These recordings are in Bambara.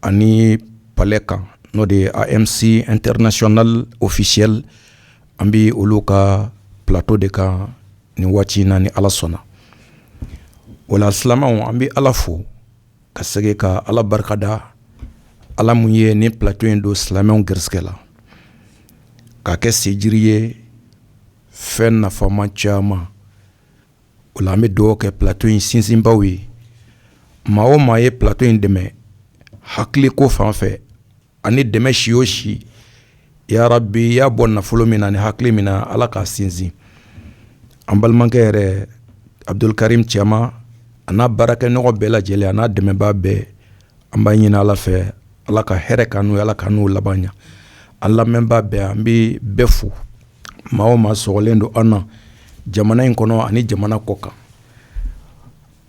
ani palɛ kan n'o de ye a m s international officiel an bɛ olu ka plateau de kan nin waati in na ni ala sɔnna o la silamɛw an bɛ ala fo ka segin ka ala barikada ala min ye nin plateau in don silamɛw garisɛgɛ la k'a kɛ siji ye fɛn nafama caman O la an bɛ duwawu kɛ plateau in sinsinbaw ye maa o maa ye pto in dɛmɛ hakili ko fan fɛ ani dɛmɛ si o si ya rabi y'a bɔ nafolo min na ni hakili min na ala k'a sinsin an balimakɛ yɛrɛ abudul karimu cama a n'a baarakɛɲɔgɔn bɛɛ lajɛlen a n'a dɛmɛba bɛɛ an b'a ɲini ala fɛ ala ka hɛrɛ k'an n'u ala k'an n'u laban ɲɛ an lamɛnba bɛɛ an bɛ bɛɛ fo maa o maa sɔgɔlen don an na jamana in kɔnɔ ani jamana kɔkan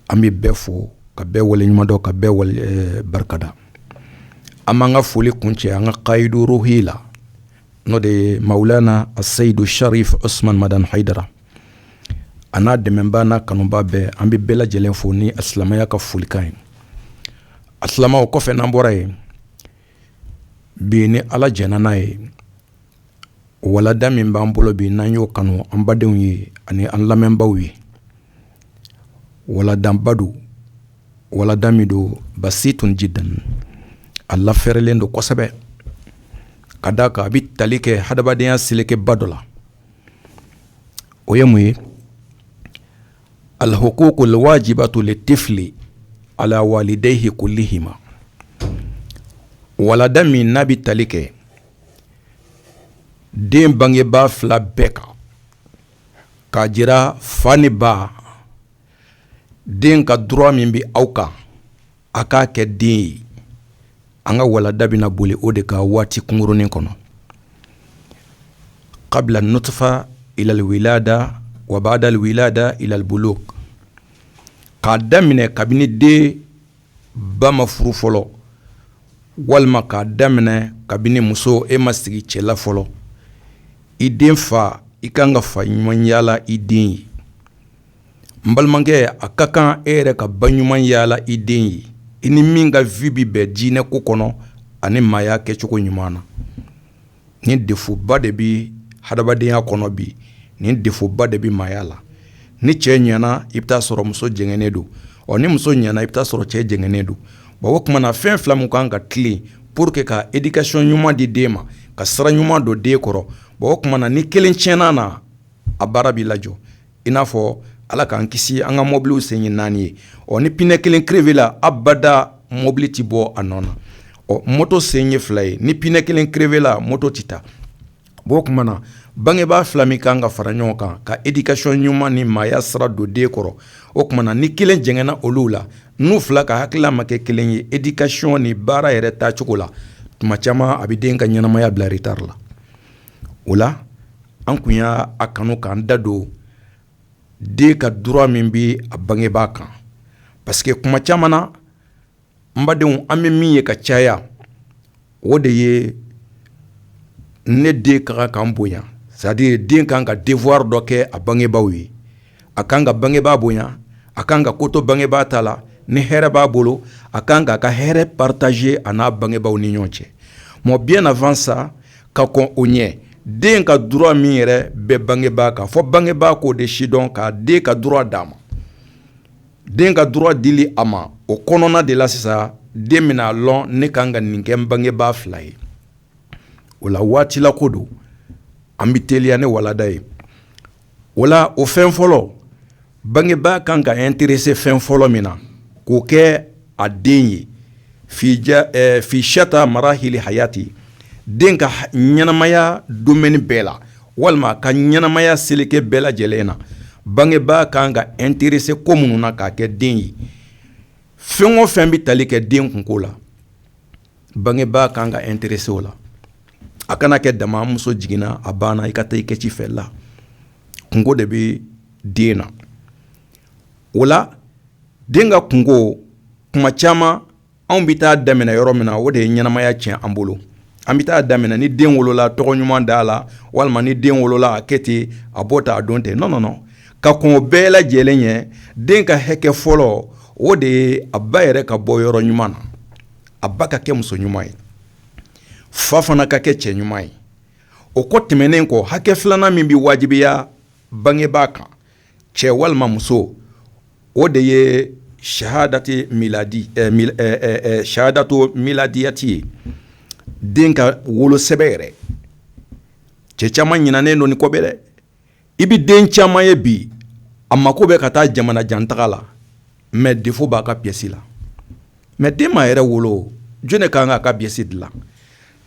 an bɛ bɛɛ fo ka bɛɛ waleɲumandɔn ka bɛɛ barikada an b'an ka foli kuncɛ an ka kayidu ruhi la n'o de ye mawulana aseyidu sarifu usumani madani hayidara a n'a dɛmɛba n'a kanuba bɛɛ an bɛ bɛɛ lajɛlen fo ni a silamɛya ka folikan ye asalamu o kɔfɛ n'an bɔra yen bi ni ala jɛnn'a ye walada min b'an bolo bi n'an y'o kanu an badenw ye ani an lamɛnbaw ye waladaba don walada min don basi tun ji dan a lafɛrɛlen don kosɛbɛ ka da a kan a bɛ tali kɛ hadamadenya selekeba dɔ la o ye mun ye alhukuku lwajibatu litifili ala walidayihi kulihima walada min n'a bɛ tali kɛ den bangebaa fila bɛɛ kan k'a jira fa ni ba den ka droit min bɛ aw kan a k'a kɛ den ye an ka walada bɛna boli o de kan waati kunkurunnin kɔnɔ kabila nutufa ila lwilada wa bada lwilada ila lbuluku k'a daminɛ kabini den ba ma furu fɔlɔ walima k'a daminɛ kabini muso e ma sigi cɛ la fɔlɔ i den fa i ka kan ka fa ɲuman yaala i den ye n balimakɛ a ka kan e yɛrɛ ka ba ɲuman yaala i den ye i ni min ka vie bɛ bɛn diinɛ ko kɔnɔ ani maaya kɛcogo ɲuman na ni defoba de bɛ hadamadenya kɔnɔ bi ni defoba de bɛ maaya la ni cɛ ɲɛna i b'a sɔrɔ muso jɛngɛnnen don ɔ ni muso ɲɛna i b'a sɔrɔ cɛ jɛngɛnnen don o tuma na fɛn fila min kan ka tilen pour que ka éducation ɲuman di den ma ka sira ɲuman don den kɔrɔ o tuma na ni kelen tiɲɛna na a baara b'i lajɔ I n'a fɔ ala k'an kisi an ka mɔbili sen ye naani ye ɔ ni pinɛ kelen crevé la abada mɔbili tɛ bɔ a nɔ na ɔ mɔto sen ye fila ye ni pinɛ kelen crevé la mɔto tɛ taa o tuma na bangebaa fila nin kan ka fara ɲɔgɔn kan ka éducation ɲuman ni maaya sira don den kɔrɔ o tuma na ni kelen jɛngɛnna olu la n'u fila ka hakilila ma kɛ kelen ye éducation ni baara yɛrɛ tacogo la tuma caman a bɛ den ka ɲɛnamaya bila retard la o la an tun y'a kanu k'an da don den ka droit min bɛ a bangebaa kan parce que kuma caman na n badenw an bɛ min ye ka caya o de ye ne den ka kan ka n bonya c'est-à-dire den kan ka devoir dɔ kɛ a bangebaaw ye a kan ka bangebaa bonya a kan ka koto bangebaa ta la ni hɛrɛ b'a bolo a kan k'a ka hɛrɛ partager a n'a bangebaaw ni ɲɔgɔn cɛ mɛ bi nafafan sa ka kɔn o ɲɛ den ka droit min yɛrɛ bɛ bangebaa kan fɔ bangebaa k'o de sidɔn ka den ka droit d'a ma den ka droit di a ma o kɔnɔna de la sisan den bɛna a dɔn ne ka kan ka nin kɛ bangebaa fila ye o la waati ko don an bɛ teliya ne walada ye wala o fɛn fɔlɔ bangebaa kan ka interese fɛn fɔlɔ min na k'o kɛ a den ye fi shata marahili hayati den ka ɲɛnamaya domaine bɛɛ la walima ka ɲɛnamaya seleke bɛɛ lajɛlen na bangebaa kan ka interese ko minnu na k'a kɛ den ye fɛn o fɛn bɛ tali kɛ den kunko la bangebaa kan ka interese o la a kana kɛ dama muso jiginna a banna i ka taa i kɛ ci fɛ la kunko de bɛ den na o la den ka kunko kuma caman anw bɛ taa daminɛ yɔrɔ min na o de ye ɲɛnamaya tiɲɛ an bolo an bɛ taa daminɛ ni den wolola tɔgɔ ɲuman da a la walima ni den wolola a kɛ ten a bɔ tan a don ten nɔn nɔn ka kɔn o bɛɛ lajɛlen ɲɛ den ka hakɛ fɔlɔ o de ye a ba yɛrɛ ka bɔ yɔrɔ ɲuman na a ba ka kɛ muso ɲuman ye fa fana ka kɛ cɛ ɲuman ye o ko tɛmɛnen kɔ hakɛ filanan min bɛ wajibiya bangebaa kan cɛ walima muso o de ye sahadatu miladiyati ye den ka wolosɛbɛn yɛrɛ cɛ caman ɲinɛnen don nin kɔ bɛrɛ I bɛ den caman ye bi a mako bɛ ka taa jamana jan taga la mɛ defo b'a ka piyɛsi la mɛ den m'a yɛrɛ wolo jɔn ka kan k'a ka piyɛsi dilan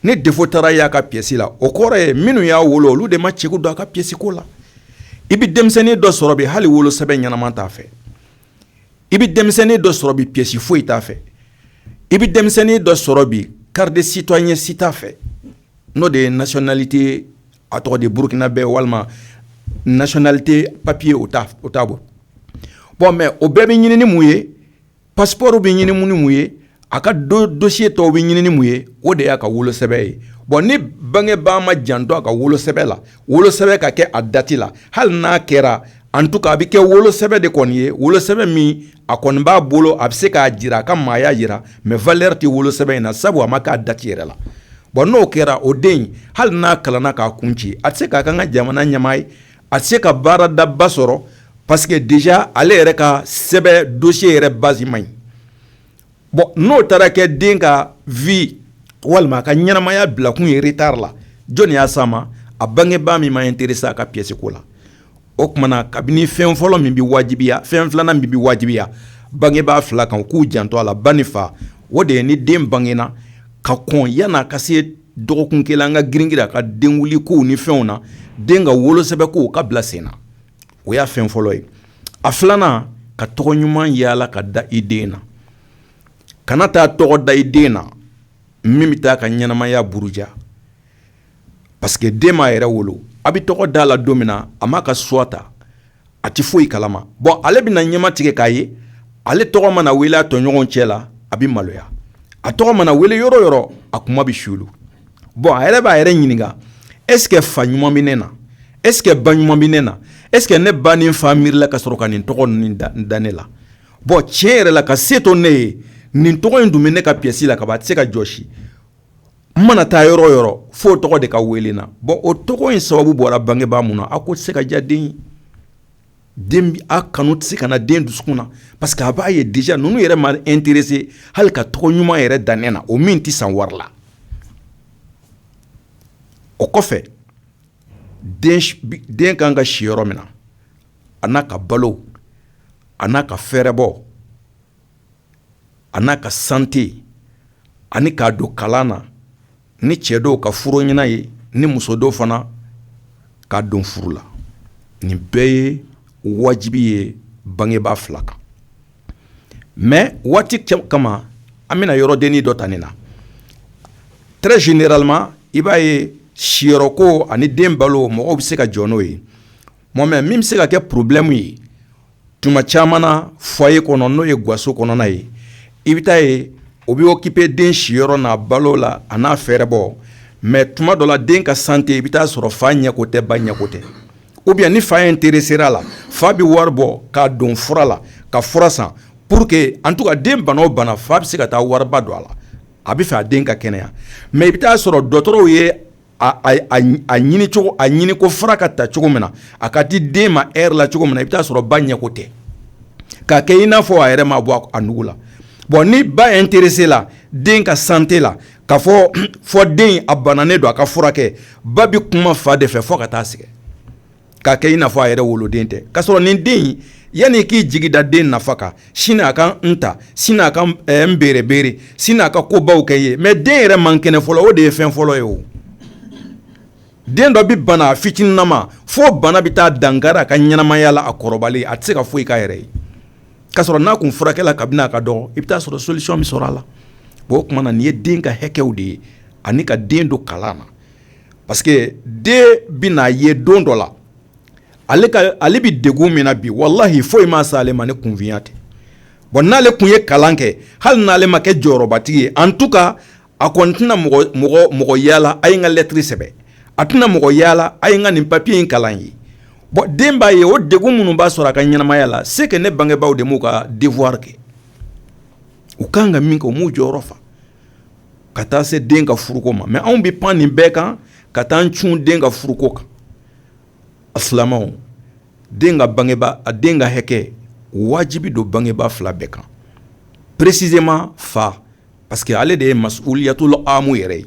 ni defo taara y'a ka piyɛsi la o kɔrɔ ye minnu y'a wolo olu de ma ci don a ka piyɛsiko la i bɛ denmisɛnnin dɔ sɔrɔ bi hali wolosɛbɛn ɲɛnama t'a fɛ i bɛ denmisɛnnin dɔ sɔrɔ bi piyɛsi foyi t'a fɛ i bɛ denmisɛnnin dɔ sɔrɔ bi carte citoyen si t'a fɛ n'o de ye nationalité a tɔgɔ di burukinabɛ walima nationalité papiye o t'a bolo bɔn mɛ o bɛɛ bɛ ɲini ni mun ye pasporo bɛ ɲini ni mun ye a ka dosiye tɔw bɛ ɲini ni mun ye o de y'a ka wolo sɛbɛ ye bɔn ni bangebaa ma jantɔ a ka wolo sɛbɛ la wolo sɛbɛ ka kɛ a dati la hali n'a kɛra en tout cas a bɛ kɛ wolo sɛbɛ de kɔni ye wolo sɛbɛ min a kɔni b'a bolo a bɛ se k'a jira a ka maaya jira mɛ valɛri tɛ wolo sɛbɛn in na sabu a ma k'a dati yɛrɛ la bɔn n'o kɛra o den hali n'a kalanna k'a kun ci a tɛ se ka k'a ka jamana ɲɛmaa ye a tɛ se ka baara daba sɔrɔ parce que déjà ale yɛrɛ ka sɛbɛn dosiye yɛrɛ basi man ɲi bɔn n'o taara kɛ den ka vi walima a ka ɲɛnamaya bilakun ye retard la jɔnni y'a sama a bangebaa min ma ɛntɛrɛse a ka piyɛsiko la o tuma na kabini fɛn fɔlɔ min bɛ wajibiya fɛn filanan min bɛ wajibiya bangebaa fila kan k'u janto a la ba ni fa o de ye ni den bangena ka kɔn yanni a ka se dɔgɔkun kelen an ka girin girin a ka den wulikow ni fɛnw na den ka wolosɛbɛ ko k'a bila sen na o y'a fɛn fɔlɔ ye a filanan ka tɔgɔ ɲuman yaala ka da i den na kana taa tɔgɔ da i den na min bɛ taa a ka ɲɛnamaya buruja parce que den m'a yɛrɛ wolo a bɛ tɔgɔ d'a la don min na a m'a ka suwa ta a tɛ foyi kala ma bɔn ale bɛna na ɲɛma tigɛ k'a ye ale tɔgɔ mana wele a tɔɲɔgɔn cɛ la a bɛ maloya a tɔgɔ mana wele yɔrɔ yɔrɔ a kunma bɛ suli bɔn a yɛrɛ b'a yɛrɛ ɲininka ɛskɛ fa ɲuman bɛ ne na ɛskɛ ba ɲuman bɛ ne na ɛskɛ ne ba ni fa miirila ka sɔrɔ ka nin tɔgɔ in da ne la bɔn tiɲɛ yɛrɛ la ka se to ne ye nin tɔgɔ in dun bɛ ne ka piyɛsi la kaban a tɛ se ka jɔsi n mana taa yɔrɔ yɔrɔ fo o tɔgɔ de ka weele n na bɔn o tɔgɔ in sababu bɔra bangebaa min na a ko tɛ se ka diya den kanu tɛ se ka na den dusukun na parce que a b'a ye déjà ninnu yɛrɛ ma ɛntɛrɛse hali ka tɔgɔ ɲuman yɛrɛ da ne na o min tɛ san wari la o kɔfɛ den kan ka si yɔrɔ min na a n'a ka balo a n'a ka fɛɛrɛbɔ a n'a ka sante ani k'a don kalan na ni cɛ don ka furu ɲin'a ye ni muso don fana k'a don furu la nin bɛɛ ye wajibi ye bangebaa fila kan mɛ waati kama an bɛna yɔrɔ dennin dɔ ta nin na très généralement i b'a ye siyɔrɔko ani den balo mɔgɔw bɛ se ka jɔ n'o ye Mɛ min bɛ se ka kɛ porobilɛmu ye tuma caman na foyer kɔnɔ n'o ye gaso kɔnɔna ye i bɛ taa yen o bɛ okipe den si yɔrɔ n'a balo la a n'a fɛɛrɛbɔ mɛ tuma dɔ la den ka sante i bɛ taa sɔrɔ fa ɲɛko tɛ ba ɲɛko tɛ ou bien ni fa ɛntɛrɛsera a la fa bɛ wari bɔ k'a don fura la ka fura san pur que en tout cas den bana o bana fa bɛ se ka taa wariba don a la a b'a fɛ a den ka kɛnɛya mɛ i bɛ taa sɔrɔ dɔgɔtɔrɔw ye a ɲini cogo a ɲini ko fara ka ta cogo min na a ka di den ma e la cogo min na i bɛ t'a sɔrɔ ba ɲɛko tɛ k'a kɛ i n'a fɔ a yɛrɛ ma bɔ a nugu la bɔn ni ba intéressé la den ka sante la k'a fɔ fɔ den a bananen don a k'a furakɛ ba bɛ kuma fa de fɛ fo ka taa sɛgɛn k'a kɛ i n'a fɔ a yɛrɛ woloden tɛ k'a sɔrɔ nin den in yanni i k'i jigi da den nafa kan sini a ka n ta sini a ka n berebere sini a ka ko baw kɛ i ye mais den yɛrɛ man kɛnɛ fɔlɔ o de ye fɛn fɔlɔ ye o den dɔ bɛ bana a fitininama fo bana bɛ taa dankari a ka ɲɛnamaya la a kɔrɔbalen a tɛ se ka foyi k'a yɛrɛ ye k'a sɔrɔ n'a tun furakɛla kabini a ka dɔgɔ i bɛ t'a sɔrɔ solution bɛ sɔrɔ a la bon o tuma na nin ye den ka hakɛw de ye ani ka den don kalan na. parce que den bɛ n'a ye don dɔ la ale ale bɛ degun min na bi walahi foyi m'a se ale ma ni kunfinya tɛ bɔn n'ale tun ye kalan kɛ hali n'ale ma kɛ jɔyɔrɔbatigi ye en tout cas a kɔni tɛna mɔgɔ yaala a ye ka lɛtiri sɛbɛn a tɛna mɔgɔ yaala a ye ka nin papiye in kalan ye bɔn den b'a ye o degun minnu b'a sɔrɔ a ka ɲɛnamaya la c'est que ne bangebaaw de m'u ka devoir kɛ u ka kan ka min kɛ u m'u jɔyɔrɔ fa ka taa se den ka furuko ma mais anw bɛ pan nin bɛɛ kan ka taa cun den ka furuko kan a filama den ka bange a den ka hakɛ wajibi don bangeba fila bɛɛ kan précisément fa parce que ale de ye mas yatula amu yɛrɛ ye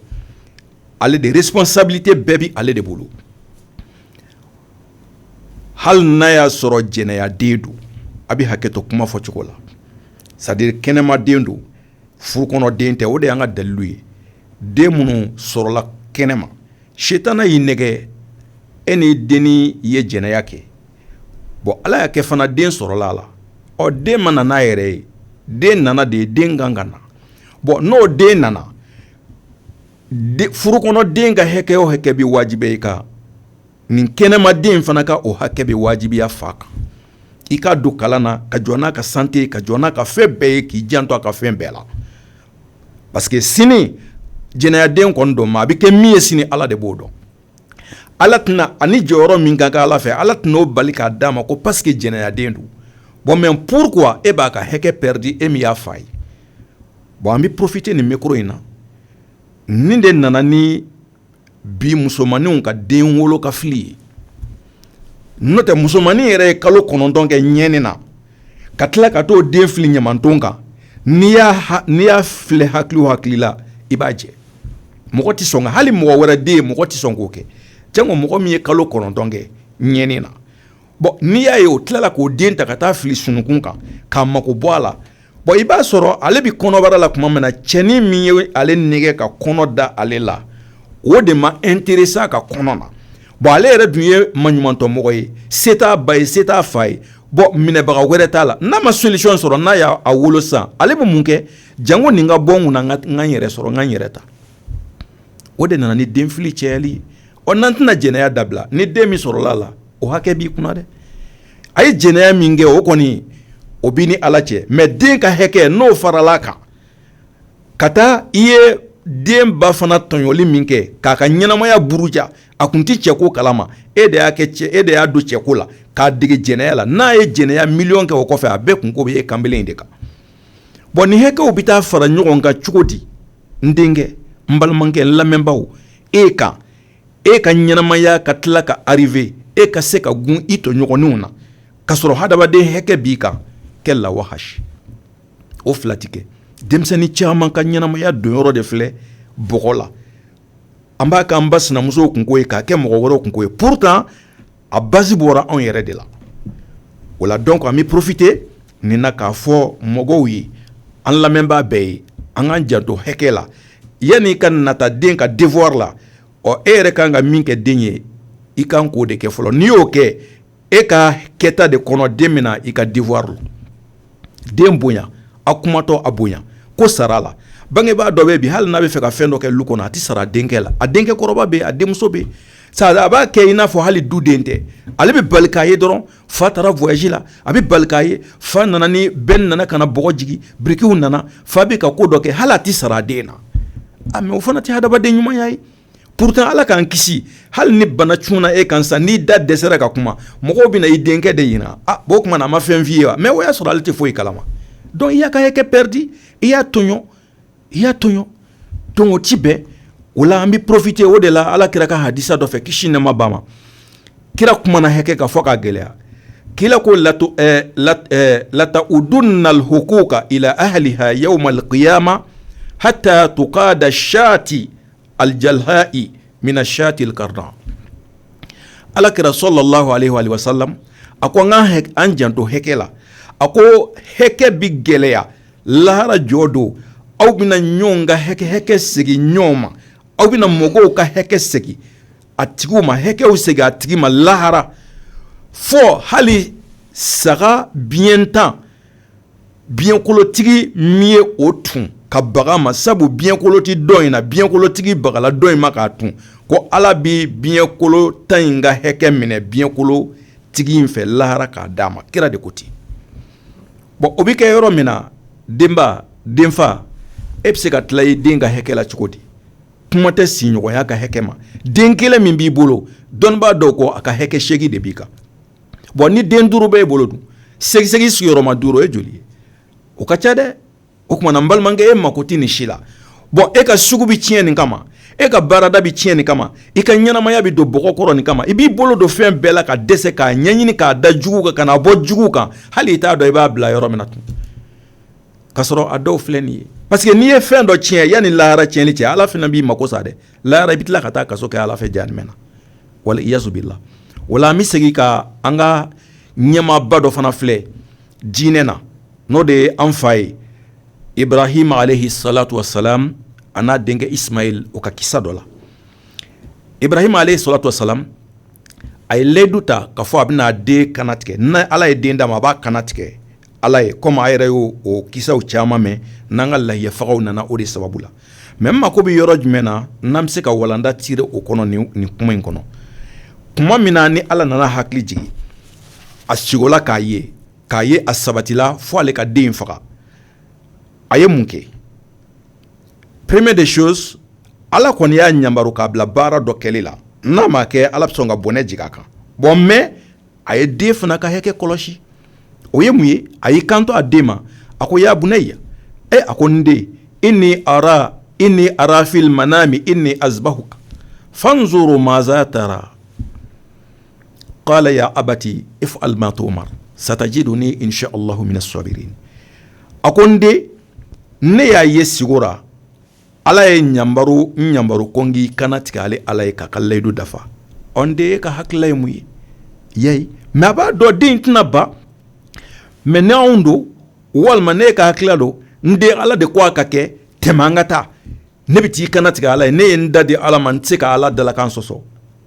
ale de responsabilité bɛɛ bɛ ale de bolo hali n'a y'a sɔrɔ jɛnɛyaden don a bɛ hakɛto kuma fɔcogo la c'est-à-dire kɛnɛmaden don furukɔnɔden tɛ o de y'an ka dalilu ye den minnu sɔrɔla kɛnɛma sitanɛ y'i nɛgɛn e ni dennin ye jɛnɛya kɛ bɔn ala y'a kɛ fana den sɔrɔla a la o den ma na n'a yɛrɛ ye den nana de den kan ka na bɔn n'o den nana furukɔnɔden ka hakɛ o hakɛ bɛ wajibiya i kan nin kɛnɛmaden fana ka o hakɛ bɛ wajibiya fa kan i k'a don kalan na ka jɔ n'a ka sante ka jɔ n'a ka fɛn bɛɛ ye k'i janto a ka fɛn bɛɛ la parce que sini jɛnɛyaden kɔni don mais a bɛ kɛ min ye sini ala de b'o dɔn ala tɛna a ni jɔyɔrɔ min kan ka ala fɛ ala tɛna o bali k'a d'a ma ko parce que jɛnɛyaden don bɔn mais pourquoi e b'a ka hakɛ pɛridi e min y'a fa ye bɔn an bɛ porofite nin mikoro in na nin de nana ni bi musomanninw ka den wolo k'a fili ye n'o tɛ musomannin yɛrɛ ye kalo kɔnɔntɔn kɛ ɲɛni na ka tila ka taa o den fili ɲamanton kan n'i n'i y'a filɛ hakili o hakili la i b'a jɛ mɔgɔ tɛ sɔn hali mɔgɔ wɛrɛ den ye mɔgɔ tɛ sɔn k'o kɛ janko mɔgɔ min ye kalo kɔnɔntɔn kɛ ɲɛni na bɔn n'i y'a ye o tilala k'o den ta ka taa fili sunungun kan k'a mako bɔ a la bɔn i b'a sɔrɔ ale bɛ kɔnɔbara la tuma min na cɛnin min ye ale nɛgɛ ka kɔnɔ da ale la o de ma intéressé a ka kɔnɔ na bɔn ale yɛrɛ dun ye maɲumantɔ mɔgɔ ye se t'a ba ye se t'a fa ye bɔn minɛbaga wɛrɛ t'a la n'a ma solution sɔrɔ n'a y'a wolo san ale bɛ mun kɛ janko nin ka bɔ n kun na n ka yɛrɛ sɔrɔ n ka n yɛrɛ ta o de nana ni denfili cayali o n'an tɛna jɛnɛya dabila ni den min sɔrɔla a la o hakɛ b'i kun dɛ a ye jɛnɛya min kɛ o kɔni o b'i ni ala cɛ mɛ den ka hakɛ n'o farala a kan ka taa i ye denba fana tɔɲɔli min kɛ k'a ka ɲɛnɛmaya buruja a tun tɛ cɛ ko kalama e de y'a kɛ cɛ e de y'a don cɛ ko la k'a dege jɛnɛya la n'a ye jɛnɛya min kɛ o kɔfɛ a bɛɛ kunko bɛ e kanbele de kan bɔn nin hakɛw bɛ taa fara ɲɔgɔn kan cogo di n denkɛ n balimakɛ n lamɛnbaaw e kan e ka ɲɛnɛmaya ka tila ka arrivé e ka se ka gun i tɔɲɔgɔnw na ka sɔrɔ hadamaden hakɛ b'i kan kɛ la wahasi o fila tɛ kɛ denmisɛnnin caman ka ɲɛnɛmaya donyɔrɔ de filɛ bɔgɔ la an b'a k'an ba sinamuso kunko ye k'a kɛ mɔgɔ wɛrɛ kunko ye pourtant a basi bɔra anw yɛrɛ de la o la donc an bɛ profité nin na k'a fɔ mɔgɔw ye an lamɛnbaa bɛɛ ye an k'an janto hakɛ la yanni i ka nata den ka devoir la o e yɛrɛ ka kan ka min kɛ den ye i kan k'o de kɛ fɔlɔ n'i y'o kɛ e ka kɛta de kɔnɔ den bɛna i ka devoir la den bonya a kumatɔ a bonya ko sara a la bangebaa dɔ bɛ bi hali n'a bɛ fɛ ka fɛn dɔ kɛ lu kɔnɔ a tɛ sara a denkɛ la a denkɛ kɔrɔba bɛ a denmuso bɛ sa a b'a kɛ i n'a fɔ hali du den tɛ ale bɛ bala k'a ye dɔrɔn fa taara voyage la a bɛ bala k'a ye fa nana ni bɛn nana ka na bɔgɔ jigin birikiw nana fa bɛ ka ko dɔ kɛ hali a tɛ sara a den na a mɛ o fana tɛ hadamaden ɲumanya ye pourtant ala k'an kisi hali ni bana cunna e kan sa n'i da dɛsɛra ka kuma mɔgɔw bɛna i denkɛ de ɲininka o tuma na a ma fɛn f'i ye wa mɛ o y'a sɔrɔ ale tɛ foyi kalama donc i y'a ka hakɛ perdu i y'a tɔɲɔ i y'a tɔɲɔ tongo ci bɛɛ o la an bɛ profité o de la ala kira ka hadisi dɔ fɛ kisi nɛɛma b'a ma kira kumana hakɛ kan fɔ ka gɛlɛya k'i ko latu latu'addunnal huquqa ila ahliha yawmal qiyama hatta yuqada lishati aljalhai mina shatil qarna ala kira salalahu alayhi wasalam a ko an ka an janto hakɛ la a ko hakɛ bɛ gɛlɛya lahara jɔ don aw bɛna ɲɔgɔn ka hakɛ hakɛ segin ɲɔgɔn ma aw bɛna mɔgɔw ka hakɛ segin a tigi ma hakɛw segin a tigi ma lahara fɔ hali saga biɲɛntan biɲɛkolotigi min ye o tu ka baga a ma sabu biɲɛkolo tɛ dɔ in na biɲɛkolotigi bagala dɔ in ma k'a tu ko ala bɛ biɲɛkolontan in ka hakɛ minɛ biɲɛkolotigi in fɛ lahara k'a d'a ma kira de ko ten bon o bɛ kɛ yɔrɔ min na denba denfa e bɛ se ka tila i den ka hakɛ la cogo di kuma tɛ sigiɲɔgɔnya ka hakɛ ma den kelen min b'i bolo dɔnnibaa dɔw ko a ka hakɛ seegin de b'i kan bɔn ni den duuru bɛ e bolo don seegin sigiyɔrɔma duuru ye joli ye o ka ca dɛ o tuma na n balimakɛ e mako tɛ nin si la bɔn e ka sugu bɛ tiɲɛ nin kama e ka baarada bɛ tiɲɛ nin kama i ka ɲɛnamaya bɛ don bɔgɔ kɔrɔ nin kama i b'i bolo don fɛn bɛɛ la ka dɛsɛ k'a ɲɛɲini k'a da jugu kan kana bɔ jugu kan hali i t'a dɔn i b'a bila yɔrɔ min na tun ka sɔrɔ a dɔw filɛ nin ye parce que n'i ye fɛn dɔ tiɲɛ yan ni lahara tiɲɛli cɛ ala fana b'i mako sa dɛ Lahara i bɛ tila ka taa kaso kɛ ala fɛ jahanama na waliyazu billah wala an bɛ segin ka an ka ɲɛmaaba dɔ fana filɛ diinɛ na n'o de ye an fa ye ibrahima alayhi salatu wa salam a n'a denkɛ ismail o ka kisa dɔ la ibrahima alayhi salatu wa salam a ye layidu ta k'a fɔ a bɛn'a den kannatigɛ n' ala ye den d'a ma a b'a kannatigɛ Ala ye kɔ a yɛrɛ y' o kisaw caman mɛn n'an ka layiyafagaw nana o de sababu la mɛ n mako bɛ yɔrɔ jumɛn na n'an bɛ se ka walanda tire o kɔnɔ nin kuma in kɔnɔ tuma min na ni ala nana a hakili jigin a sigo la k'a ye k'a ye a sabatila fo ale ka den faga a ye mun kɛ première des choses ala kɔni y'a ɲa k'a bila baara dɔ kɛli la n'a ma kɛ ala sɔn ka bɔnɛ jigin a kan bɔn mɛ a ye den fana ka hakɛ kɔlɔsi o ye mun ye a y'i kanto a den ma a ko ya bunayya ee a ko n den inni ara inni ara fil manami anni azbahuka fanzur maza tara kala ya abati ifal ma tumar satajiduni in sha allah mina sabirin a ko n den ne y'a ye sigo ra ala ye n yamaru ko n k'i kannatigɛ ale ala ye ka n ka layidu dafa ɔ den e ka hakilila ye mun ye ya mɛ a b'a dɔn den tɛna ban mɛ n'anw don walima ne ka hakilila don n den ala de ko a ka kɛ tɛmɛ an ka taa ne bɛ taa i kannatigɛ ala ye ne ye n da di ala ma n tɛ se ka ala dalakan sɔsɔ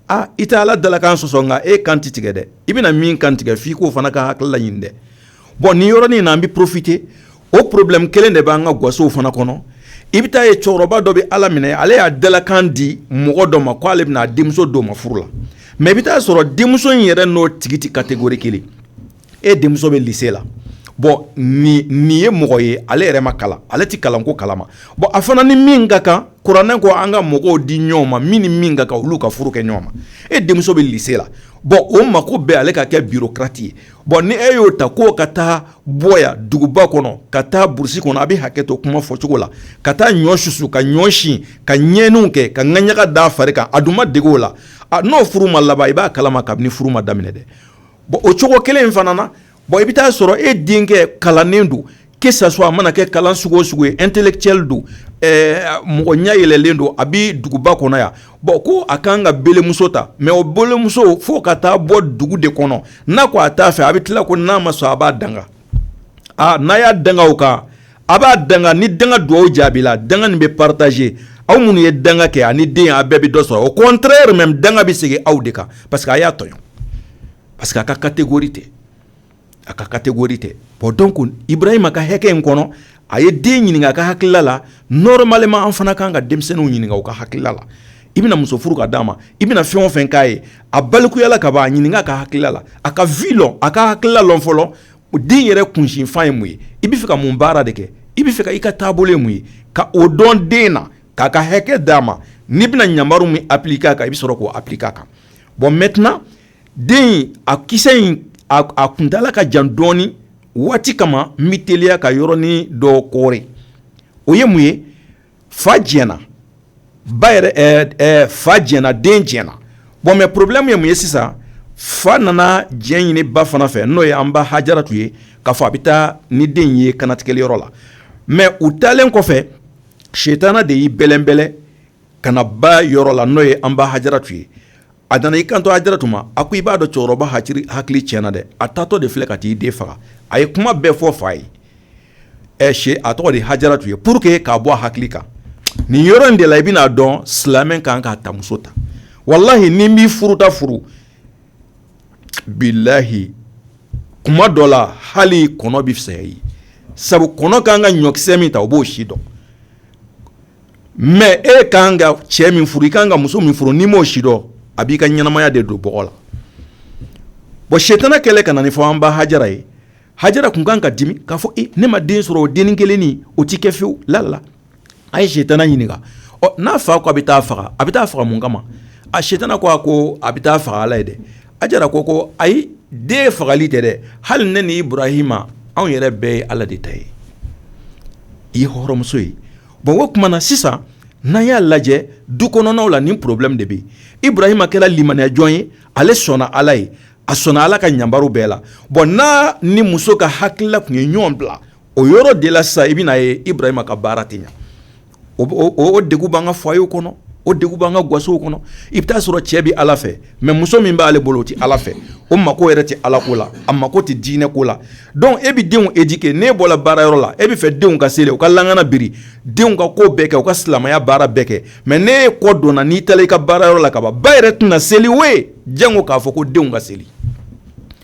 aa i tɛ ala dalakan sɔsɔ nka e kan tɛ tigɛ dɛ i bɛna min kantigɛ f' i k'o fana ka hakilila ɲini dɛ bɔn nin yɔrɔnin in na an bɛ profite o porobilɛmu kelen de b'an ka gasow fana kɔnɔ i bɛ t'a ye cɛkɔrɔba dɔ bɛ ala minɛ ale y'a dalakan di mɔgɔ dɔ ma k ko ale bɛna a denmuso d'o ma furu la mɛ i bɛ t'a sɔrɔ denmuso in yɛrɛ n'o tigi tɛ kategori kelen e denmuso bɛ lise la bɔn nin ye mɔgɔ ye ale yɛrɛ ma kalan ale tɛ kalanko kalama bɔn a fana ni min ka kan kuranɛ ko an ka mɔgɔw di ɲɔgɔn ma min ni min ka kan olu ka furu kɛ ɲɔgɔn ma e denmuso bɛ lise la bɔn o mako bɛ ale ka kɛ bikati ye bɔn ni e y'o ta k'o ka taa bɔ duguba kɔnɔ ka taa burusi kɔnɔ a bɛ hakɛ to kuma fɔ cogo la ka taa ɲɔ susu ka ɲɔ si ka ɲɛɲiniw kɛ ka ɲaga da fari kan a dun ma dege o la n'o furu ma laban i b'a kalama kabini furu ma daminɛ dɛ bon o cogo kelen in fana na bɔn i bɛ taa sɔrɔ e denkɛ kalannen don que ça soit a mana kɛ kalan sugu o sugu ye intellectuel don mɔgɔ ɲɛ yɛlɛlen don a bɛ duguba kɔnɔ yan bɔn ko a kan ka belemuso ta mɛ o belemuso fo ka taa bɔ dugu de kɔnɔ n'a ko a t'a fɛ a bɛ tila ko n'a ma sɔn a b'a danga aa n'a y'a danga o kan a b'a danga ni danga dugawu jaabila danga nin bɛ parataze aw minnu ye danga kɛ ani den a bɛɛ bɛ dɔ sɔrɔ au contraire même danga bɛ segin aw de kan pa parce que a y'a tɔɲɔ parce que a ka catégorie tɛ a ka catégorie tɛ bɔn donc ibarahima ka hakɛ in kɔnɔ a ye den ɲininka a ka hakilila la normalement an fana kan ka denmisɛnninw ɲininka u ka hakilila la i bɛna muso furu ka di a ma i bɛna fɛn o fɛn k'a ye a balikuya la ka a ɲininka a ka hakilila la a ka v a ka hakilila la fɔlɔ o den yɛrɛ kunsinfan ye mun ye i bɛ fɛ ka mun baara de kɛ i bɛ fɛ i ka taabolo mun ye ka o dɔn den na k'a ka hakɛ d'a ma n'i bɛna ɲamari min apilike a kan i bɛ sɔrɔ k'o apilike a kan bɔn mɛt den a kisa in a kuntaala ka jan dɔɔnin waati kama n bɛ teliya ka yɔrɔnin dɔ kɔɔri o ye mun ye fa diɲɛna ba fa diɲɛna den diɲɛna bon mɛ porobilɛmu ye mun ye sisan fa nana diɲɛ ɲini ba fana fɛ n'o ye an ba hajaratu ye ka fɔ a bɛ taa ni den ye kannatigɛli yɔrɔ la mɛ u taalen kɔfɛ setana de y'i bɛlɛnbɛlɛ ka na ba yɔrɔ la n'o ye an ba hajaratu ye a nana i kanto hajaratu ma a ko i b'a dɔn cɛkɔrɔba hakili tiɲɛna dɛ a taatɔ de filɛ ka t'i den faga a ye kuma bɛɛ fɔ fa ye ɛ si a tɔgɔ de hajaratu ye pour que k'a bɔ a hakili kan nin yɔrɔ in de la i bɛna a dɔn silamɛ kan ka tamuso ta walahi n'i bɛ furuta furu bilayi kuma dɔ la hali kɔnɔ bɛ fisaya i ye sabu kɔnɔ ka kan ka ɲɔkisɛ min ta o b'o si dɔn mɛ e ka kan ka cɛ min furu i ka kan ka muso min furu n'i m'o sidɔn a b'i ka ɲɛnamaya de don bɔgɔ la bon setana kɛlen ka na nin fɔ an ba hajara ye hajara tun kan ka dimi k'a fɔ e ne ma den sɔrɔ fo den kelen o tɛ kɛ fewu lala a ye setana ɲininka ɔ n'a fa ko a bɛ taa faga a bɛ taa faga mun kama a setana ko a ko a bɛ taa faga ala ye dɛ hajara ko ko ayi den fagali tɛ dɛ hali ne ni ibarahima anw yɛrɛ bɛɛ ye ala de ta ye i ye hɔrɔnmuso ye bon o tuma na sisan n'an y'a lajɛ du kɔnɔnaw la nin porobilɛmu de bɛ ibarahima kɛra limaniyajɔn ye ale sɔnna ala ye a sɔnna ala ka ɲamaru bɛɛ la bɔn n'a ni muso ka hakilila tun ye ɲɔgɔn bila o yɔrɔ de la sa i bɛna ye ibarahima ka baara tɛ ɲɛ o de b'an ka foyer kɔnɔ o de b'an ka gasow kɔnɔ i bɛ t'a sɔrɔ cɛ bɛ ala fɛ mɛ muso min b'ale bolo o tɛ ala fɛ o mako yɛrɛ tɛ ala ko la a mako tɛ diinɛ ko la Dɔnku e bɛ denw éduquer n'e bɔra baara yɔrɔ la e b'a fɛ denw ka seli u ka lakana biri denw ka ko bɛɛ kɛ u ka silamɛya baara bɛɛ kɛ mɛ n'e y'i kɔ don n'i taara i ka baara yɔrɔ la ka ban ba yɛrɛ tɛna seli we janko k'a fɔ ko denw ka seli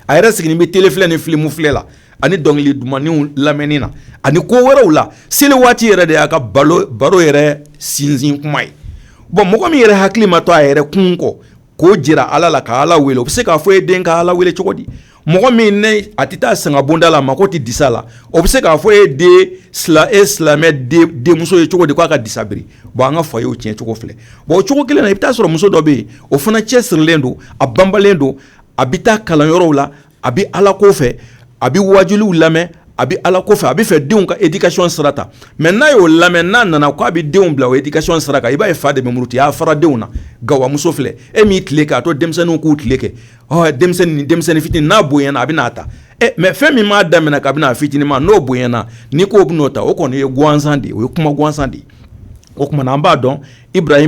a yɛrɛ sigilen bɛ tele ni filimu filɛ la ani dɔnkili dumanw lamɛnni na ani ko wɛrɛw la seli waati yɛrɛ de y'a ka baro yɛrɛ sinsin kuma ye bɔn mɔgɔ min yɛrɛ hakili ma to a yɛrɛ kunko k'o jira ala la ka ala wele o bɛ se k'a fɔ e den ka ala wele cogo di mɔgɔ min n'a tɛ taa sanga bonda la mako tɛ disa la o bɛ se k'a fɔ e den e silamɛ denmuso ye cogo di k'a ka disa biri bɔn an ka foyerw cɛn cogo filɛ bon o cogo kelen na i bɛ taa sɔrɔ muso dɔ bɛ yen o fana cɛsirilen don a banbalen don a bɛ taa kalan yɔrɔw la a bɛ ala ko fɛ a bɛ waajuli lamɛn a bɛ ala ko fɛ a bɛ fɛ denw ka éducation sira ta mɛ n'a y'o lamɛn n'a nana k' a bɛ denw bila o éducation sira i b'a ye fa de bɛ muruti a fara denw na gawamuso filɛ e min y'i tile kɛ a to denmisɛnninw k'u tile kɛ denmisɛnnin denmisɛnnin fitinin n'a bonyana a bɛna a ta mɛ fɛn min m'a daminɛ kabini a fitininma n'o bonyana ni ko b'o ta o kɔni ye gansan de o ye kuma gansan de o tuma na an b'a dɔn kira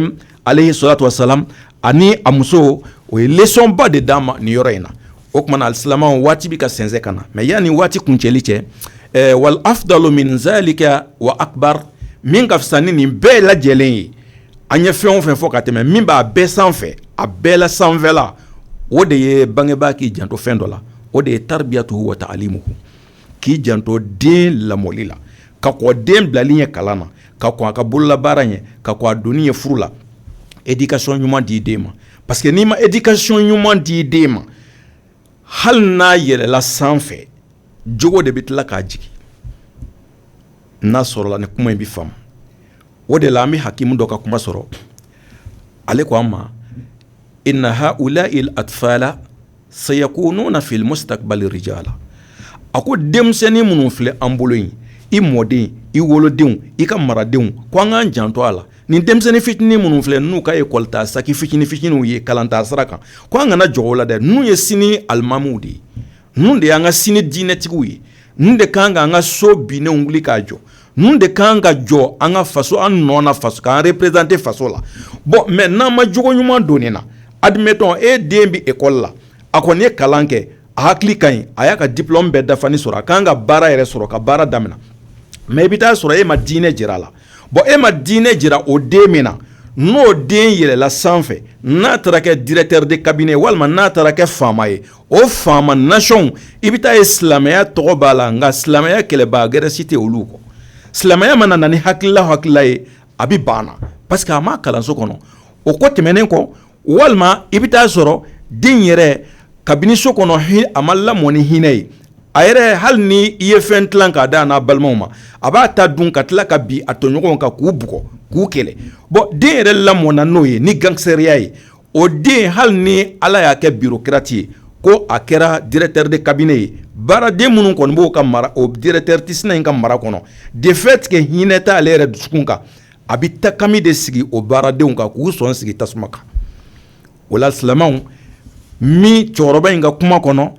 aleyhi salatu wassalam ani a muso o ye lesɔnba de d'an ma nin yɔrɔ in na o tuma na alisilamɛ waati bɛ ka sɛnsɛn ka na mɛ yanni waati kuncɛli cɛ wal afdalu min zalika wa akbar min ka fisa ni nin bɛɛ lajɛlen ye an ye fɛn o fɛn fɔ ka tɛmɛ min b'a bɛɛ sanfɛ a bɛɛ la sanfɛla o de ye bangebaa k'i janto fɛn dɔ la o de ye tarbiyatu wa taalimu k'i janto den lamɔli la ka kɔn den bilali ɲɛ kalan na ka kɔn a ka bololabaara ɲɛ ka kɔn a donni ɲɛ furu la éducation ɲuman di den ma parce que n'i ma éducation ɲuman di den ma hali n'a yɛlɛla sanfɛ jogo de bɛ tila k'a jigin n'a sɔrɔla nin kuma in bɛ faamu o de la an bɛ hakimu dɔ ka kuma sɔrɔ ale ko an ma Sayakununa fil mustakbali rijala a ko denmisɛnnin minnu filɛ an bolo in i mɔden i wolodenw i ka maradenw ko an k'an janto a la nin denmisɛnnin fitinin minnu filɛ n'u ka ekɔlitaa saki fitinin fitininw ye kalantaa sira kan ko an kana jɔn u la dɛ ninnu ye sini alimamiw de ye ninnu de y'an ka sini diinɛtigiw ye ninnu de kan k'an ka so binnen wuli k'a jɔ Ninnu de kan ka jɔ an ka faso an nɔ na faso k'an représenter faso la bon mais n'an ma jogo ɲuman don nin na admettons e den bɛ école la a kɔni ye kalan kɛ a hakili ka ɲi a y'a ka diplome bɛɛ dafalen sɔrɔ a ka kan ka baara yɛrɛ sɔrɔ ka baara daminɛ mais i bɛ taa sɔrɔ e ma diinɛ jira a la bon e ma diinɛ jira o den min na n'o den yɛlɛla sanfɛ n'a taara kɛ directeur de cabinet walima n'a taara kɛ faama ye o faama nasiɔnw i bɛ taa ye silamɛya tɔgɔ b'a la nka silamɛya kɛlɛbaga gɛrɛ si tɛ olu kɔ silamɛya mana na ni hakilila hala ye a bɛ banna parce que a ma kalanso kɔnɔ o kɔ tɛmɛnen kɔ walima i bɛ taa sɔrɔ den yɛrɛ kabini so kɔnɔ a ma lamɔn ni hinɛ ye a yɛrɛ hali ni i ye fɛn dila k'a d'a n'a balimaw ma a b'a ta dun ka tila ka bin a tɔɲɔgɔn kan k'u bugɔ k'u kɛlɛ bon den yɛrɛ lamɔnna n'o ye ni gangsiteriya ye o den hali ni ala y'a kɛ bureaucrate ye ko a kɛra directeur de cabinet ye baaraden minnu kɔni b'o ka mara o directeur sina in ka mara kɔnɔ du fait que hinɛ t'ale yɛrɛ dusukun kan a bɛ takami de sigi o baaradenw kan k'u sɔn sigi tasuma kan o la silamɛw min cɛkɔrɔba in ka kuma kɔnɔ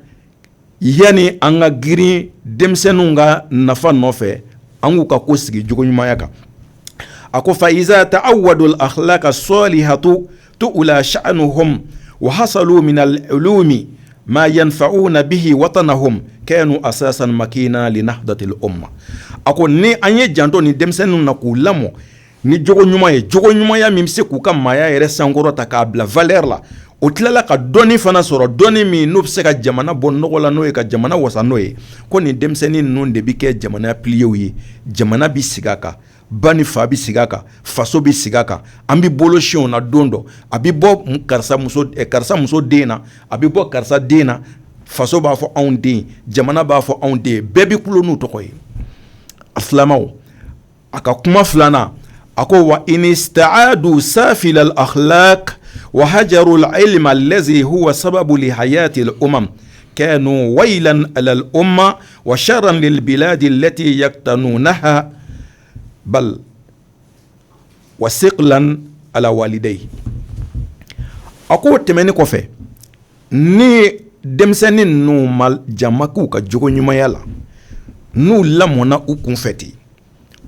yanni an ka girin denmisɛnninw ka nafa nɔfɛ an k'u ka ko sigi jogo ɲumanya kan a ko fa iza ta'awwadu al akhlaqa salihatu tu'ula sha'anuhum wa hasalu min al ulumi ma yanfa'una bihi watanahum kanu asasan makinan li nahdatil umma a ko ni an ye janto nin denmisɛnninw na k'u lamɔ Ni jogo ɲuman ye jogo ɲumanya min bɛ se k'u ka maaya yɛrɛ sankɔrɔta k'a bila valeur la o tilala ka dɔni fana sɔrɔ dɔn min n'o bɛ se ka jamana bɔ nɔgɔ la n'o ye ka jamana wasa n'o ye ko nin denmisɛnnin ninnu de bɛ kɛ jamana pilierw ye jamana bɛ sigi a kan ba ni fa bɛ sigi a kan faso bɛ sigi a kan an bɛ bolo sin u la don dɔ a bɛ bɔ karisa karisa muso den na a bɛ bɔ karisa den na faso b'a fɔ anw den jamana b'a fɔ anw den bɛɛ bɛ ku n'u tɔgɔ ye a filama a ka kuma filanan a ko wa i ni sara don sa fili ala wa haro la e ma ze wa sababu haya tɛ o ma kɛ n' wayi ala o ma wa sara dela de lɛti ya tan n' na h bali wa se ala walide ye a ko o tɛmɛnen kɔfɛ Ni denmisɛnnin ninnu ma jama k'u ka jogo ɲumanya la n'u lamɔnna u kun fɛ ten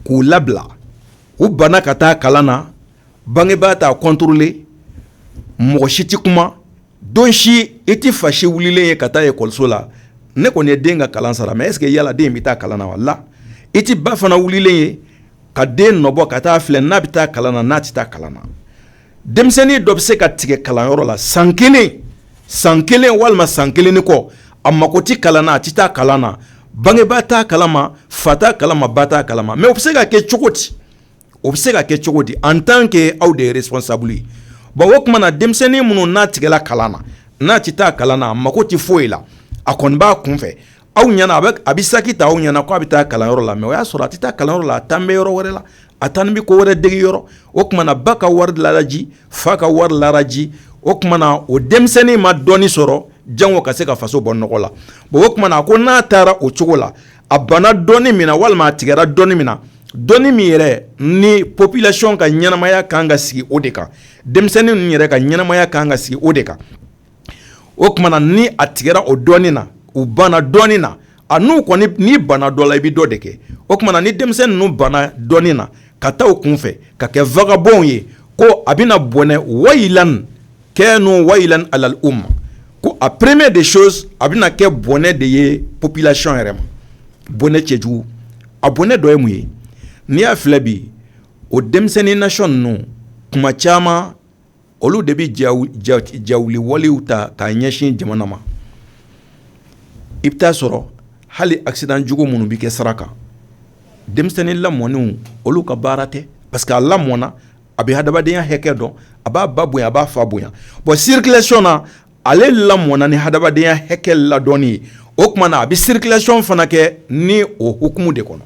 k'u labila u banna ka taa kalan na bangebaa t'a contrôler mɔgɔ si tɛ kuma don si i tɛ fa si wililen ye ka taa ekɔliso la ne kɔni ye den ka kalan sara mais est-ce que yala den in bɛ taa kalan na wala i tɛ ba fana wililen ye ka den nɔbɔ ka taa filɛ n'a bɛ taa kalan na n'a tɛ taa kalan na denmisɛnnin dɔ bɛ se ka tigɛ kalanyɔrɔ la san kelen san kelen walima san kelen ni kɔ a mako tɛ kalan na a tɛ taa kalan na bangebaa t'a kalama fa t'a kalama ba t'a kalama mais o bɛ se ka kɛ cogo di o bɛ se ka kɛ cogo di en tant que aw de responsable ye bon o tuma na denmisɛnnin minnu n'a tigɛla kalan na n'a tɛ taa kalan na a mako tɛ foyi la a kɔni b'a kunfɛ aw ɲɛna a a bɛ saki ta aw ɲɛna k' a bɛ taa kalanyɔrɔ la mɛ o y'a sɔrɔ a tɛ taa kalanyɔrɔ la a taalen bɛ yɔrɔ wɛrɛ la a taalen bɛ ko wɛrɛ dege yɔrɔ o tuma na ba ka wari lala ji fa ka wari lala ji o tuma na o denmisɛnnin ma dɔnni sɔrɔ janko ka se ka faso bɔ nɔgɔ la bon o tuma na ko n'a taara o cogo la a banna dɔnni min walima a tigɛra dɔnni min na dɔnni min yɛrɛ ni popilasiyɔn ka ɲɛnamaya kan ka sigi o de kan denmisɛnnin yɛrɛ ka ɲɛnamaya kan ka sigi o de kan o tuma na ni a tigɛra o dɔnni na u banna dɔnni na a n'u kɔni n'i banna dɔ la i bɛ dɔ de kɛ o tuma na ni denmisɛn ninnu banna dɔnni na ka taa u kun fɛ ka kɛ vagabɔnw ye ko a bɛna na bɔnɛ wa kɛ n wa ala u ma ko a première des choses a bɛna na kɛ bɔnɛ de ye popilasiyɔn yɛrɛ ma bɔnɛ cɛjugu a bɔnɛ dɔ ye mun ye n'i y'a filɛ bi o denmisɛnnin nati ninnu tuma caman olu de bɛ jawuli walew ta k'a ɲɛsin jamana ma i bɛ t'a sɔrɔ hali akisidan jugu minnu bɛ kɛ sira kan denmisɛnnin lamɔnenw olu ka baara tɛ parce que a lamɔna a bɛ hadamadenya hakɛ dɔn a b'a ba bonya a b'a fa bonya bon sirikilasiyɔn na Ale lamɔna ni hadamadenya hakɛ ladɔnni ye o tuma na a bɛ sirikilasiyɔn fana kɛ ni o hukumu de kɔnɔ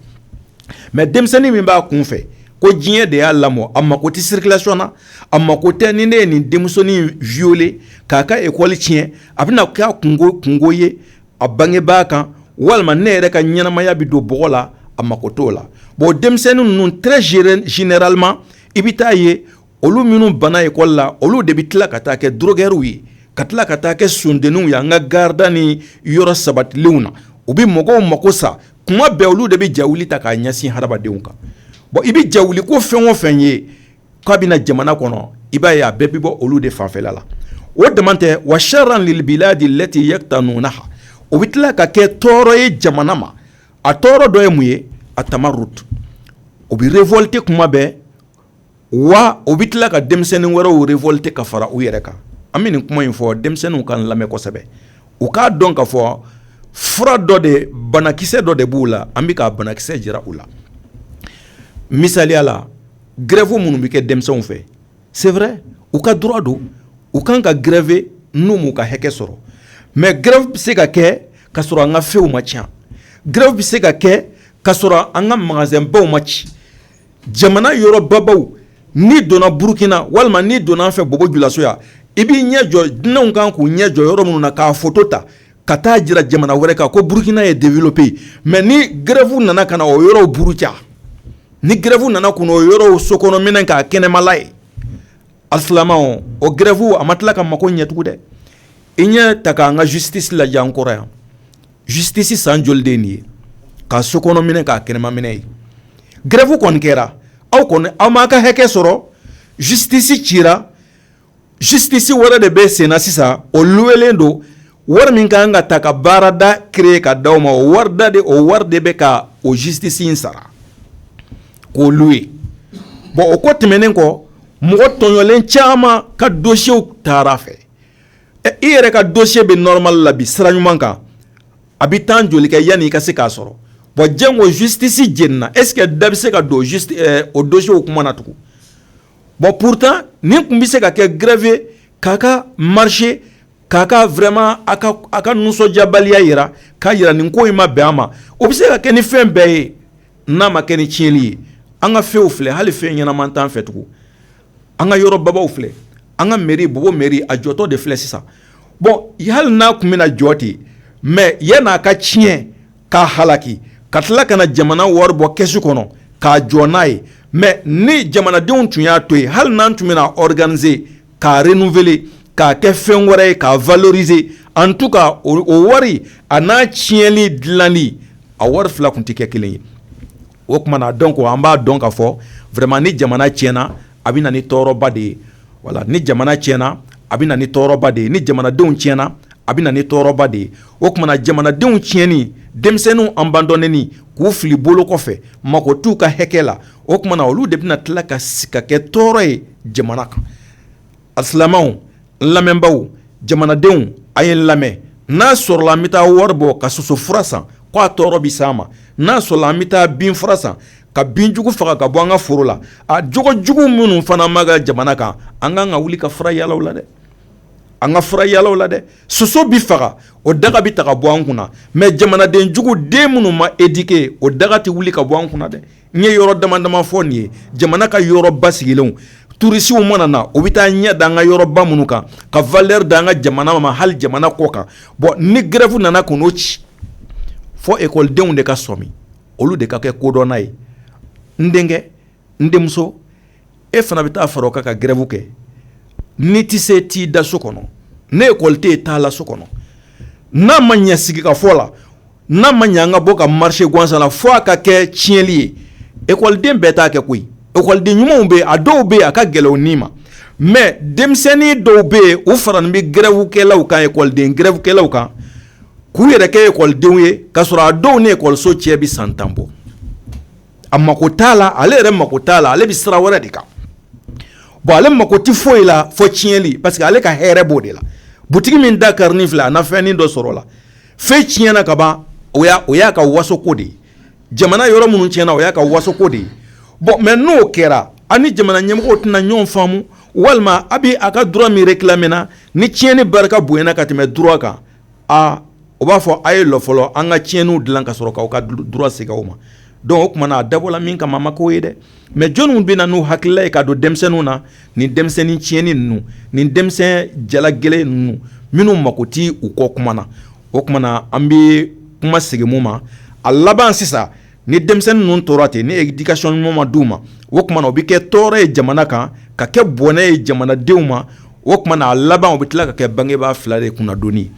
mɛ denmisɛnnin min b'a kun fɛ ko diɲɛ de y'a lamɔ a mako tɛ sirikilasiyɔn na a mako tɛ ni ne ye nin denmusonin viyole k'a ka ekɔli tiɲɛ a bɛna na kɛ kunko ye a bangebaa kan walima ne yɛrɛ ka ɲɛnamaya bɛ don bɔgɔ la a mako t'o la bon denmisɛnnin ninnu très généralement i bɛ t'a ye olu minnu banna ekɔli la olu de bɛ tila ka taa kɛ dɔrɔgɛriw ye ka tila ka taa kɛ sdenw ye an ka gari da ni yɔrɔ sabatilenw na u bɛ mɔgɔw mako sa kuma bɛɛ olu de bɛ jawuli ta k'a ɲɛsin hadamadenw kan bon i bɛ jawuli ko fɛn o fɛn ye k'a bɛna na jamana kɔnɔ i b'a ye a bɛɛ bɛ bɔ olu de fan fɛ la o de tɛ wa siyarara de lɛti ye tan ninnu na o bɛ tila ka kɛ tɔɔrɔ ye jamana ma a tɔɔrɔ dɔ ye mun ye a tama o bɛ revɔlite kuma bɛɛ wa u bɛ tila ka denmisɛnnin wɛrɛw revɔlite ka fara u yɛrɛ kan an bɛ nin kuma in fɔ denmisɛnninw k'an lamɛn kosɛbɛ u k'a dɔn ka fɔ fura dɔ de banakisɛ dɔ de b'u la an bɛ ka banakisɛ jira u la misali la gɛrɛfuw minnu bɛ kɛ denmisɛnw fɛ c'est vrai u ka droit don u kan ka gɛrɛfe n'u m'u ka hakɛ sɔrɔ mɛ gɛrɛfu bɛ se ka kɛ ka sɔrɔ an ka fɛnw ma ci gɛrɛfu bɛ se ka kɛ ka sɔrɔ an ka mangazɛnbaw ma ci jamana yɔrɔbabaw n'i donna burukina walima n'i donna an fɛ bobo julaso yan i b'i ɲɛ jɔ dunanw kan k'u ɲɛ jɔ yɔrɔ minnu na k'a foto ta ka taa jira jamana wɛrɛ kan ko burukina ye développé ye mɛ ni gɛrɛfu nana ka na o yɔrɔw buruja ni gɛrɛfu nana kun o yɔrɔ so kɔnɔ minɛn k'a kɛnɛmala ye a filama o gɛrɛfu a ma tila ka mako ɲɛ tugun dɛ i ɲɛ ta k'an ka jisitisi lajɛ an kɔrɔ yan Justice san joli de ye ka so kɔnɔ minɛ k'a kɛnɛmaminɛ ye gɛrɛfu kɔni kɛra aw kɔni aw ma aw ka hakɛ sɔrɔ justice cira justice wɛrɛ de bɛ senna sisan o luwelen don wari min ka kan ka ta ka baarada créer ka di aw ma o warida de o wari de bɛ ka o justice in sara k'o luwe bɔn o ko tɛmɛnen kɔ mɔgɔ tɔɲɔlen caman ka dossierw taara a fɛ ɛ i yɛrɛ ka dossier bɛ normal la a bɛ sira ɲuman kan a bɛ temps joli kɛ yanni i ka se k'a sɔrɔ bon janko justice jenina est ce que da bɛ se ka don justice ɛ o dossierw kuma na tugun bon pourtant nin tun bɛ se ka kɛ grève k'a ka marche k'a ka vraiment a ka a ka nisɔndiyabaliya jira k'a jira nin ko in ma bɛn a ma o bɛ se ka kɛ ni fɛn bɛɛ ye n'a ma kɛ ni tiɲɛni ye an ka fɛnw filɛ hali fɛn ɲɛnaman t'an fɛ tugun an ka yɔrɔ babaw filɛ an ka mairie Bobo mairie a jɔtɔ de filɛ sisan bɔn hali n'a tun bɛna jɔ ten mɛ yann'a ka tiɲɛ k'a halaki ka tila ka na jamana wari bɔ kɛsu kɔnɔ k'a jɔ n'a ye mɛ ni jamanadenw tun y'a to yen hali n'an tun bɛna organiser k'a renouveler k'a kɛ fɛn wɛrɛ ye k'a valoriser an tun ka o wari a n'a tiɲɛnli dilanli a wari fila tun tɛ kɛ kelen ye o tuma na donc an b'a dɔn k'a fɔ vraiment ni jamana tiɲɛna a bɛ na ni tɔɔrɔba de ye wala ni jamana tiɲɛna a bɛ na ni tɔɔrɔba de ye ni jamanadenw tiɲɛna a bɛ na ni tɔɔrɔba de ye o tuma na jamanadenw tiɲɛni denmisɛnninw abandonnéni k'u fili bolo kɔfɛ mago t'u ka hakɛ la o tuma na olu de bɛna tila ka segin ka kɛ tɔɔrɔ ye jamana kan A silamɛw n lamɛnbaw jamanadenw a ye n lamɛn n'a sɔrɔla an bɛ taa wari bɔ ka soso fura san k'a tɔɔrɔ bɛ s'an ma n'a sɔrɔla an bɛ taa bin fura san ka binjugu faga ka bɔ an ka foro la a jogo jugu minnu fana b'an ka jamana kan an ka kan ka wuli ka fura yaala u la dɛ an ka fura yaala u la dɛ soso bɛ faga o daga bɛ ta ka bɔ an kunna mɛ jamanaden jugu den minnu ma éduquer o daga tɛ wuli ka bɔ an kunna dɛ N ye yɔrɔ dama dama fɔ nin ye jamana ka yɔrɔ basigilenw turisiw mana na u bɛ taa ɲɛ da an ka yɔrɔba minnu kan ka valeur d'an ka jamana ma hali jamana kɔ kan bɔn ni gɛrɛfu nana kun n'o ci fɔ ekɔlidenw de ka sɔmi olu de ka kɛ kodɔnna ye n denkɛ n denmuso e fana bɛ taa fara a kan ka gɛrɛfu kɛ n'i tɛ se t'i da so kɔnɔ ni ekɔli tɛ t'a la so kɔnɔ n'a ma ɲɛ sigi ka fɔ la n'a ma ɲɛ an ka bɔ ka marcher gansansala fo a ka kɛ tiɲɛnli ye ekɔliden bɛɛ t'a kɛ koyi ekɔliden ɲumanw bɛ a dɔw bɛ yen a ka gɛlɛn n ma mɛ denmisɛnnin dɔw bɛ yen u faralen bɛ gɛrɛfukɛlaw kan ekɔliden gɛrɛfukɛlaw kan k'u yɛrɛ kɛ ekɔlidenw ye ka sɔrɔ a dɔw ni ekɔliso cɛ bɛ san tan bɔ a mako t'a la ale yɛrɛ mako t'a la ale bɛ sira wɛrɛ de kan bon ale mako tɛ foyi la fo tiɲɛnli parce que ale ka hɛrɛ b'o de la bu min da kari ni fila a na fɛnin dɔ sɔrɔ a la fɛn tiɲɛna ka ban o o y'a ka wasoko de ye jamana yɔrɔ minnu tiɲɛna o y'a ka wasoko de ye bon mais n'o kɛra an ni jamana ɲɛmɔgɔw tɛna ɲɔgɔn faamu walima a bɛ a ka droit min réclamer na ni tiɲɛni barika bonyana ka tɛmɛ droit kan aa u b'a fɔ a ye lɔ fɔlɔ an ka tiɲɛniw dilan ka sɔrɔ k'aw ka droit segin aw ma donc o tuma na a dabɔra min kama a ma k'o ye dɛ mais jɔniw bɛ na n'u hakilila ye ka don denmisɛnninw na nin denmisɛnnin tiɲɛnen ninnu nin denmisɛn jala gɛlɛn ninnu minnu mako tɛ u kɔ kuma na o tuma na an bɛ kuma segin mun ma a laban sisan ni denmisɛnnin ninnu tora ten ni éducation ɲuman ma di u ma o tuma u bɛ kɛ tɔɔrɔ ye jamana kan ka kɛ bɔnɛ ye jamanadenw ma o tuma a laban u bɛ tila ka kɛ bangebaa fila de kunnadoni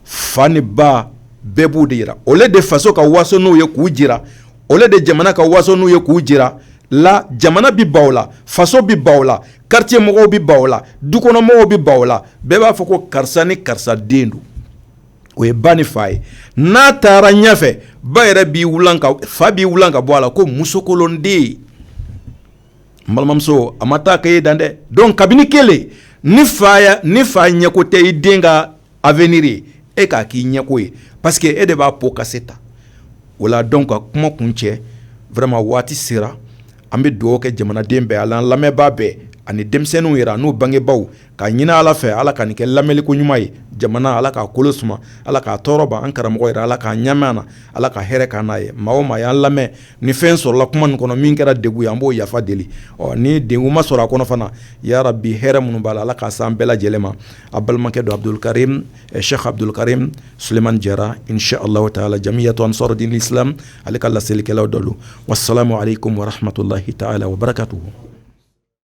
fa ni ba bɛɛ b'u de jira au lieu de faso ka waso n'u ye k'u jira au lieu de jamana ka waso n'u ye k'u jira la jamana bɛ ban u la faso bɛ ban u la quartier mɔgɔw bɛ ban u la dukɔnɔmɔgɔw bɛ ban u la bɛɛ b'a fɔ ko karisa ni karisa den don o ye ba ni fa ye n'a taara ɲɛfɛ ba yɛrɛ b'i fa b'i wili ka bɔ a la ko musokolonden ye balimamuso a ma taa e dan dɛ donc kabini kelen ni fa ni fa ɲɛko tɛ i den ka avenir ye e k'a k'i ɲɛko ye parce que e de b'a pot cassé ta o la donc ka kuma kuncɛ vraiment waati sera An bɛ dugawu kɛ jamanaden bɛɛ a lamɛnbaa bɛɛ ani denmisɛnninw yɛrɛ n'u bangebagaw k'a ɲini ala fɛ ala k'a kɛ lamɛnliko ɲuman ye jamana ala k'a kolo suma ala k'a tɔɔrɔ ban an karamɔgɔ yɛrɛ ala k'a ɲa na ala ka hɛrɛ kɛ a ye maa min y'a lamɛn ni fɛn sɔrɔla kuma min kɔnɔ min kɛra degun ye an b'o yafa deli ɔ ni degun ma sɔrɔ a kɔnɔ fana ya rabi hɛrɛ minnu b'a la ala k'a se an bɛɛ lajɛlen ma a balimakɛ don abudukarimu sɛki abudukarimu Sulemani jara inshallahu taala jamiyatu ansaru dini silamɛ ale ka laselikɛlaw dɔ don wa salamu alekum wa rahmatulahi taala wa barakatuhu